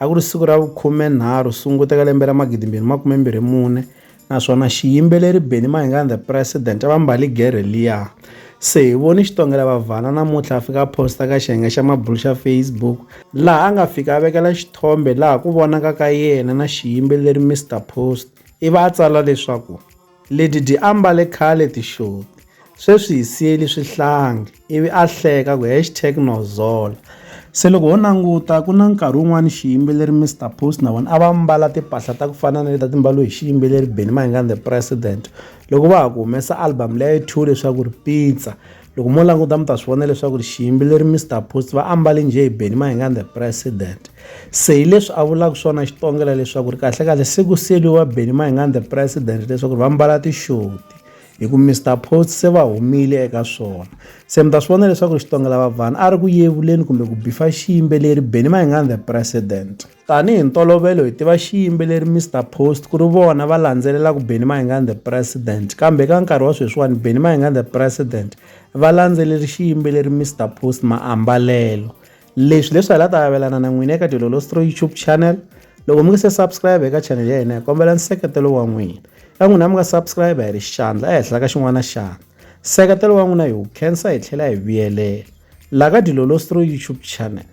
A ku ri siku ra vukhume-nharhu Sunguti eka lembe ra magidimbirhi makume mbirhi mune, naswona xiyimbeleri Benny Mahinga and the President a va mbali gerhe liya. Se hi voni Xitongela Bhavhana namuntlha a fika a posta ka xiyenge xa mabulu xa Facebook, laha a nga fika a vekela xithombe laha ku vonaka ka yena na xiyimbeleri Mister Post, ivi a tsala leswaku. Leti di ambale khale tixoti, sweswi hi siyeli swihlangi, ivi a hleka ku hashtag no zola. Se loko ho languta ku na nkarhi wun'wana xiyimbeleri Mister Post na vona a va mbala timpahla ta ku fana na leti a ti mbaliwe hi xiyimbeleri Benny Mayengani The President loko va ha ku humesa album leyi a yi thyiwe leswaku ri Pizza. loko mo languta mi ta swi vona leswaku xiyimbeleri Mister Post va ambale njhe Benny Mahingani the president se hi leswi a vulaka swona xitongela leswaku ri kahlekahle se ku siyeliwa Benny Mahingani the president leswaku ri va mbala tixoti hi ku Mister Post se va humile eka swona se mi ta swi vona leswaku xitongela vavhana a ri ku yevuleni kumbe ku bifa xiyimbeleri Benny Mahingani the president Tanihi ntolovelo hi tiva xiyimbeleri Mister Post ku ri vona va landzelelaka Benny Mayengani the President kambe eka nkarhi wa sweswiwani Benny Mayengani the President va landzeleri xiyimbeleri Mister Post maambalelo leswi leswi hala ta avelana na n'wina eka Dilolostro YouTube channel loko mi nge se subscribe eka channel ya hina hi kombela nseketelo wa n'wina ka n'wina mi nga subscribe hi ri xandla ehenhla ka xin'wana na xandla nseketelo wa n'wina hi wu khensa hi tlhela hi vuyelela laha ka Dilolostro YouTube channel